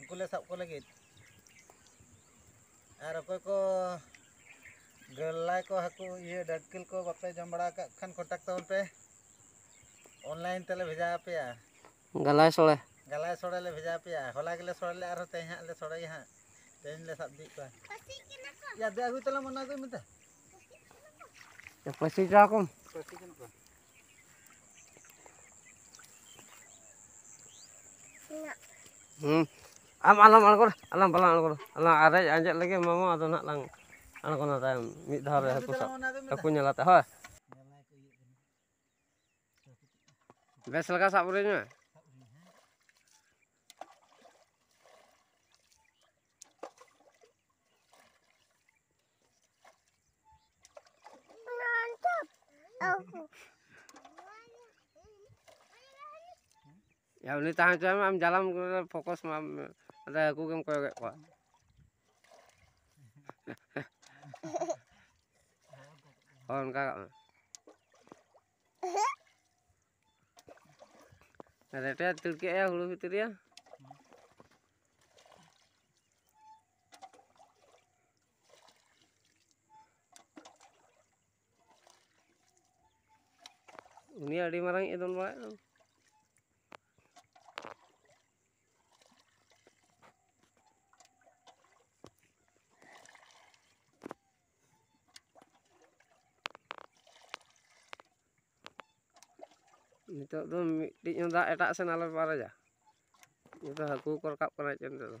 ᱩᱱᱠᱩ ᱞᱮ ᱥᱟᱵ ᱠᱚ ᱞᱟᱹᱜᱤᱫ ᱟᱨ ᱚᱠᱚᱭ ᱠᱚ ᱜᱟᱹᱞᱟᱭ ᱠᱚ ᱦᱟᱹᱠᱩ ᱤᱭᱟᱹ ᱰᱟᱹᱲᱠᱤᱞ ᱠᱚ ᱵᱟᱯᱮ ᱡᱚᱢ ᱵᱟᱲᱟ ᱟᱠᱟᱫ ᱠᱷᱟᱱ ᱠᱚᱱᱴᱟᱠ ᱛᱟᱵᱚᱱ ᱯᱮ ᱚᱱᱞᱟᱭᱤᱱ ᱛᱮᱞᱮ ᱵᱷᱮᱡᱟ ᱟᱯᱮᱭᱟ ᱜᱟᱞᱟᱭ ᱥᱳᱲᱮ ᱜᱟᱞᱟᱭ ᱥᱳᱲᱮ ᱞᱮ ᱵᱷᱮᱡᱟ ᱟᱯᱮᱭᱟ ᱦᱚᱞᱟ ᱜᱮᱞᱮ ᱥᱳᱲᱮ ᱞᱮᱫᱼᱟ ᱟᱨᱦᱚᱸ ᱛᱮᱦᱮᱧ ᱦᱟᱸᱜ ᱞᱮ ᱥᱳᱲᱮᱭᱟ ᱦᱟᱸᱜ ᱛᱮᱦᱮᱧ ᱞᱮ ᱥᱟᱵ ᱤᱫᱤᱭᱮᱫ ᱠᱚᱣᱟ ᱭᱟ ᱫᱮ ᱟᱹᱜᱩᱭ ᱛᱟᱞᱟᱝ ᱢᱮ ᱚᱱᱟ ᱟᱹᱜᱩᱭ ᱢᱮ ᱫᱮ ᱯᱟᱹᱥᱤ ᱦᱚᱪᱚ ᱟᱠᱚᱢ ᱯᱟᱹᱥᱤ ᱠᱟᱱᱟ ᱠᱚ ᱦᱩᱸ ᱟᱢ ᱟᱞᱚᱢ ᱟᱬᱜᱚᱱᱟ ᱟᱞᱚᱢ ᱵᱟᱞᱟᱝ ᱟᱬᱜᱚᱱᱟ ᱟᱞᱟᱝ ᱟᱨᱮᱡ ᱟᱸᱡᱮᱫ ᱞᱮᱜᱮ ᱢᱟᱢᱚ ᱟᱫᱚ ᱱᱟᱜ ᱞᱟᱝ ᱟᱬᱜᱚᱱᱟ ᱛᱟᱭᱚᱢ ᱢᱤᱫ ᱫᱷᱟᱣ ᱨᱮ ᱦᱟᱹᱠᱩ ᱥᱟᱵ ᱦᱟᱹᱠᱩ ᱧᱮᱞ ᱟᱛᱮ ᱦᱳᱭ ᱵᱮᱥ ᱞᱮᱠᱟ ᱥᱟᱵ ᱨᱮᱧ ᱢᱮ ᱭᱟ ᱩᱱᱤ ᱛᱟᱦᱮᱸ ᱦᱚᱪᱚᱭ ᱢᱮ ᱟᱢ ᱡᱟᱞᱟᱢ ᱯᱷᱳᱠᱚᱥ ᱢᱟ ᱟᱫᱚ ᱦᱟᱹᱠᱩ ᱜᱮᱢ ᱠᱚᱭᱚᱜᱮᱫ ᱠᱚᱣᱟ ᱦᱳᱭ ᱚᱱᱠᱟ ᱠᱟᱜ ᱢᱮ ᱨᱮᱴᱮ ᱛᱤᱲᱠᱮᱜᱼᱟ ᱦᱩᱲᱩ ᱵᱷᱤᱛᱨᱤ ᱨᱮ ᱩᱱᱤ ᱟᱹᱰᱤ ᱢᱟᱨᱟᱝ ᱮ ᱫᱚᱱ ᱵᱟᱲᱟᱭᱮᱫ ᱫᱚ ᱱᱤᱛᱚᱜ ᱫᱚ ᱢᱤᱫᱴᱤᱡ ᱦᱚᱸ ᱫᱟᱜ ᱮᱴᱟᱜ ᱥᱮᱱ ᱟᱞᱮ ᱵᱟᱨᱮᱡᱟ ᱱᱤᱛᱚᱜ ᱦᱟᱹᱠᱩ ᱠᱚ ᱨᱟᱠᱟᱵ ᱠᱟᱱᱟ ᱪᱮᱫ ᱱᱤᱛᱚᱜ ᱫᱚ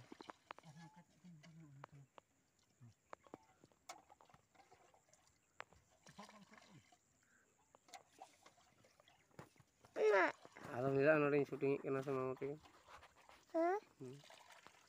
ᱟᱫᱚ ᱢᱤᱫ ᱫᱷᱟᱣ ᱱᱚᱰᱮᱧ ᱥᱩᱴᱤᱝᱮᱫ ᱠᱟᱱᱟ ᱥᱮ ᱢᱟᱢᱚ ᱛᱮᱜᱮ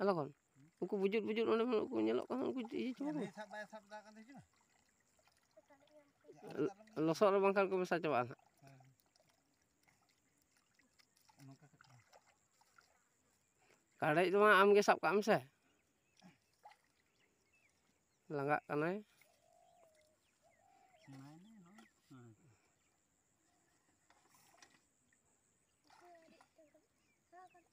ᱟᱫᱚ ᱠᱷᱚᱱ ᱩᱱᱠᱩ ᱵᱩᱡᱩᱫ ᱵᱩᱡᱩᱫ ᱚᱸᱰᱮ ᱠᱚ ᱧᱮᱞᱚᱜ ᱠᱟᱱᱟ ᱩᱱᱠᱩ ᱤᱭᱟᱹ ᱪᱟᱵᱟ ᱠᱚ ᱞᱚᱥᱚᱫ ᱨᱮ ᱵᱟᱝᱠᱷᱟᱱ ᱠᱚ ᱢᱮᱥᱟ ᱪᱟᱵᱟᱜᱼᱟ ᱱᱟᱜ ᱠᱟᱰᱮᱡ ᱫᱚ ᱟᱢ ᱜᱮ ᱥᱟᱵ ᱠᱟᱜ ᱢᱮᱥᱮ ᱞᱟᱸᱜᱟᱜ ᱠᱟᱱᱟᱭ Thank you.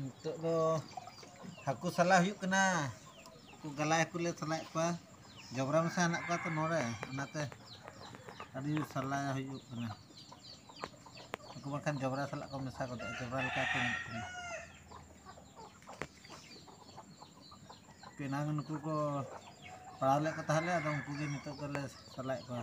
ᱱᱤᱛᱚᱜ ᱫᱚ ᱦᱟᱹᱠᱩ ᱥᱟᱞᱟᱜ ᱦᱩᱭᱩᱜ ᱠᱟᱱᱟ ᱩᱱᱠᱩ ᱜᱟᱞᱟᱭ ᱦᱟᱹᱠᱩ ᱞᱮ ᱥᱟᱞᱟᱭᱮᱫ ᱠᱚᱣᱟ ᱡᱚᱵᱽᱨᱟ ᱢᱮᱥᱟ ᱦᱮᱱᱟᱜ ᱠᱚᱣᱟ ᱛᱚ ᱱᱚᱰᱮ ᱚᱱᱟᱛᱮ ᱟᱹᱰᱤ ᱥᱟᱞᱟ ᱦᱩᱭᱩᱜ ᱠᱟᱱᱟ ᱩᱱᱠᱩ ᱵᱟᱝᱠᱷᱟᱱ ᱡᱚᱵᱽᱨᱟ ᱥᱟᱞᱟᱜ ᱠᱚ ᱢᱮᱥᱟ ᱜᱚᱫᱚᱜᱼᱟ ᱡᱚᱵᱽᱨᱟ ᱞᱮᱠᱟ ᱠᱚ ᱧᱮᱞᱚᱜ ᱠᱟᱱᱟ ᱯᱮᱱᱟᱝ ᱱᱩᱠᱩ ᱠᱚ ᱯᱟᱲᱟᱣ ᱞᱮᱫ ᱠᱚ ᱛᱟᱦᱮᱸᱫ ᱞᱮ ᱟᱫᱚ ᱩᱱᱠᱩ ᱜᱮ ᱱᱤᱛᱚᱜ ᱫᱚᱞᱮ ᱥᱟᱞᱟᱭᱮᱫ ᱠᱚᱣᱟ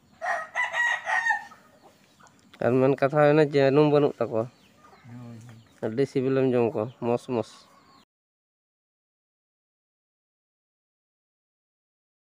ᱟᱨ ᱢᱮᱱ ᱠᱟᱛᱷᱟ ᱦᱩᱭᱱᱟ ᱡᱟᱹᱱᱩᱢ ᱵᱟᱹᱱᱩᱜ ᱛᱟᱠᱚᱣᱟ ᱟᱹᱰᱤ ᱥᱤᱵᱤᱞᱮᱢ ᱡᱚᱢ ᱠᱚᱣᱟ ᱢᱚᱥ ᱢᱚᱥ